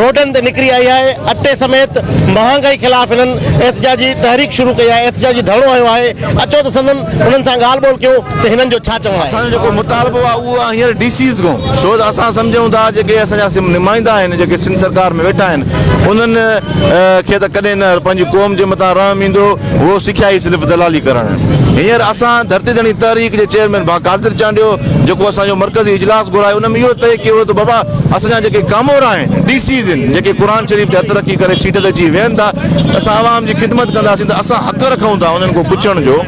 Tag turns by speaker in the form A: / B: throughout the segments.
A: روڊن تي نڪري آئي آهي، اٽي سميت مهانگائي خلاف هنن احتجاجي تحريڪ شروع ڪئي آهي، احتجاجي ڌرڻو هنيو آهي، اچو ته سندن انهن سان ڳالهه ٻولهه ڪيون ته هنن جو ڇا چوڻ آهي. اسان جو جيڪو مطالبو آهي
B: اهو آهي هينئر ڊي سيز کان ڇو ته اسان سمجهون ٿا جيڪي اسان جا نمائندا آهن جيڪي سنڌ سرڪار ۾ ويٺا آهن انهن کي ته ڪڏهن نه پنهنجي قوم جي متان رحم ايندو. هو سکيا ئي صرف دلالي ڪرڻ. هينئر اسان ڌرتي ڌڻي تحريڪ جي چيئرمين ڀا قادر چانڊيو جيڪو اسان جو مرڪزي اجلاس گهرائي ان ۾ اهو طئي ڪيو ويو ته بابا اسان جا جيڪي ڪامورا آهن ڊي سيز آهن جيڪي قرآن شريف تي هٿ رکي ڪري سيٽ تي اچي ويهن ٿا ته اسان عوام جي خدمت ڪنداسين ته اسان حق رکون ٿا انهن کان پڇڻ جو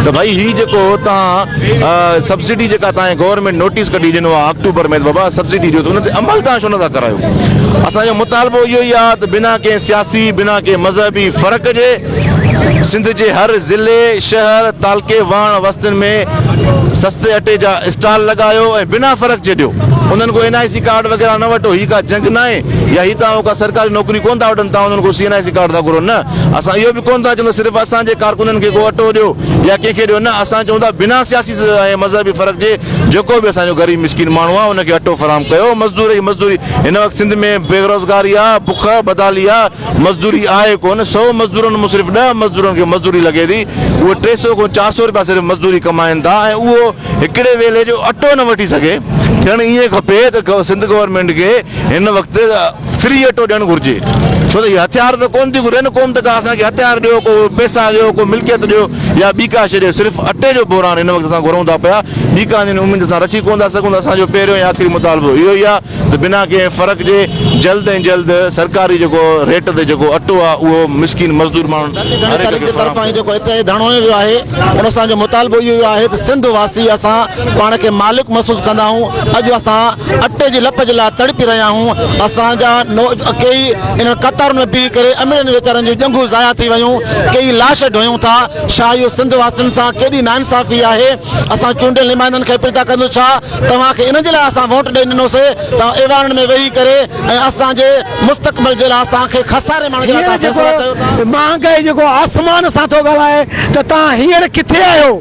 B: ته ڀائي هي جيڪو توهان سبسڊي جيڪا توهان جي گورنمينٽ نوٽيس ڪڍي ڏنو آهي آڪٽوبر ۾ ته بابا سبسڊي ڏيو ته ان تي عمل توهان ڇو نٿا ڪرايو. اسان جو مطالبو اهو ئي آهي ته بنا ڪنهن سياسي، بنا ڪنهن مذهبي فرق جي سنڌ جي هر ضلعي، شهر، تعلقي، واڻ وستين ۾ سستي اٽي جا اسٽال لڳايو ۽ بنا فرق جي ڏيو. انهن ڪو اين آء سي ڪارڊ وغيره نه وٺو، هي ڪا جنگ ناهي يا هي توهان ڪا سرڪاري نوڪري ڪونه ٿا وٺن توهان انهن کان C N I C card ٿا گهرو نه اسان اهو به ڪونه ٿا چون ته صرف اسان جي ڪارڪنن کي ڪو اٽو ڏيو يا ڪنهن کي ڏيو نه اسان چون ٿا بنا سياسي ميز ۽ مذهبي فرق جي جيڪو به اسان جو غريب مسڪين ماڻهو آهي ان کي اٽو فراهم ڪيو مزدور جي مزدوري هن وقت سنڌ ۾ بيروزگاري آهي بک بدحالي آهي مزدوري آهي ڪونه سو مزدورن مون صرف ڏهه مزدورن کي مزدوري لڳي ٿي اهي ٽي سو کان چار سو روپيا صرف مزدوري ڪمائين ٿا ۽ اهو هڪڙي ويلي جو اٽو نه وٺي سگهي ٿيڻ ائين کپي ته سنڌ گورنمينٽ کي هن وقت فري اٽو ڏيڻ گهرجي ڇو ته هي هٿيار ته ڪون ٿي گهرين ڪوم ته ڪا اسان کي هٿيار ڏيو ڪو پيسا ڏيو ڪو ملڪيت ڏيو يا ٻي ڪا شي ڏيو صرف اٽي جو بحران هن وقت اسان گهرون ٿا پيا ٻي ڪا جن اميد اسان رکي ڪون ٿا سگهون ته اسان جو پهريون ۽ آخري مطالبو اهو ئي آهي ته بنا ڪنهن فرق جي جلد ۽ جلد سرڪاري جيڪو ريٽ تي جيڪو اٽو آهي اهو مسڪين مزدور ماڻهن
A: هر هڪ کي فراهم ڪيو وڃي. پاڻ کي مالڪ محسوس ڪندا آهيون اڄ اسان اٽي جي لپ جي لاء تڙپي رهيا آهيون اسان جا ڪيئي انهن قطارن ۾ بيهي ڪري امڙين ويچارن جون ڄنگهون ضايع ٿي ويون ڪيئي لاش ڍوئون ٿا ڇا اهو سنڌ واسين سان ڪيڏي ناانصافي آهي اسان چونڊيل نمائندن کي اپيل ٿا ڪندو ڇا توهان کي ان جي لاء اسان ووٽ ڏئي ڏنو سي توهان ايوانن ۾ ويهي ڪري ۽ اسان جي مستقبل جي لاء اسان کي خساري ماڻڻ جي لاء توهان فيصلا ڪيو ٿا.
C: مهانگائي جيڪو آسمان سان ٿو ڳالهائي ته توهان هينئر ڪٿي آهيو.